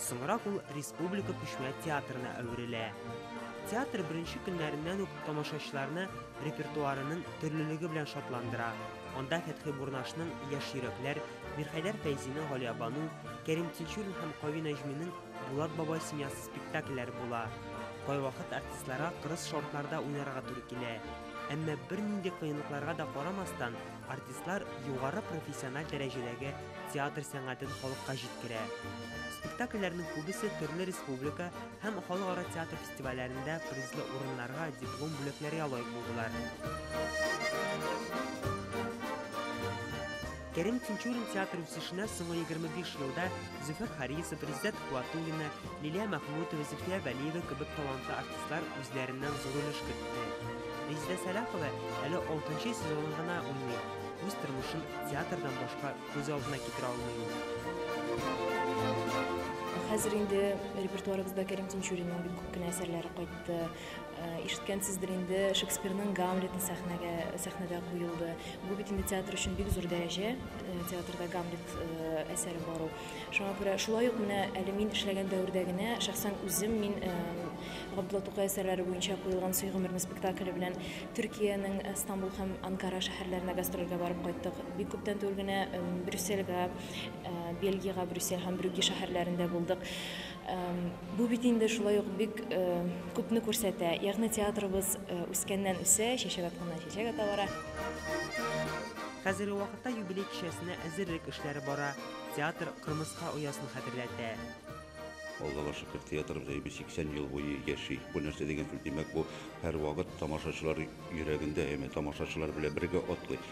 Соңрак ул республика күчмә театрына әверелә. Театр беренче көннәреннән үк тамашачыларны репертуарының төрлелеге белән шатландыра. Анда Фәтхи Бурнашның Яшь йөрәкләр, Мирхәйдәр Фәйзинең Галиябану, Кәрим Тинчурин һәм Кави Нәҗминең Булат бабай семьясы спектакльләре була. Кайвакыт артистларга кырыс шартларда уйнарга туры килә. Әмма бернинди кыенлыкларга да карамастан, Артистлар югары профессиональ дәрәҗәдәге театр сәнгатен халыкка җиткерә. Спектакльләрнең күбесе төрле республика һәм халыкара театр фестивальләрендә призлы урыннарга, диплом бүләкләргә лаек булдылар. Кәрим Тинчурин театр үсешенә соңгы 25 елда Зөфәр Харисов, Риззәт Хуатуллина, Лилия Мәхмүтова, Зөлфия Вәлиева кебек талантлы артистлар үзләреннән зур өлеш кертте. Резидә Сәлахова әле алтынчы сезонын гына уйный, үз тормышын театрдан башка күз алдына китерә алмый ул. Хәзер инде репертуарыбызда Кәрим Тинчуринның бик күп кенә әсәрләре кайтты. Ишеткәнсездер инде, Шекспирның Гамлеты сәхнәгә сәхнәдә куелды. Бу бит инде театр өчен бик зур дәрәҗә, э, театрда Гамлет э, әсәре бару. Шуңа күрә шулай ук менә әле мин эшләгән дәвердә генә шәхсән үзем мин э, Габдулла Тукай әсәрләре буенча куелган Сөй гомерне спектакле белән Төркиянең э, Стамбул һәм Анкара шәһәрләренә гастрольгә барып кайттык. Бик күптән түгел генә э, Брюссельгә, э, Бельгиягә, Брюссель һәм Брюгге шәһәрләрендә булдык. Бу бит инде шулай ук бик күпне күрсәтә. Ягъни театрыбыз үскәннән үсә, чәчәк атканнан чәчәк ата бара. Хәзерге вакытта юбилей кичәсенә әзерлек эшләре бара. Театр Кырмыска оясын хәтерләтә. Аллага шөкер, театрыбыз әйбер 80 ел буе яши. Бу нәрсә дигән сүз? Димәк, бу һәрвакыт тамашачылар йөрәгендә, яме тамашачылар белән бергә атлый.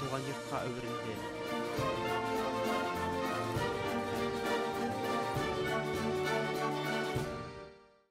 туган йортка әверелде.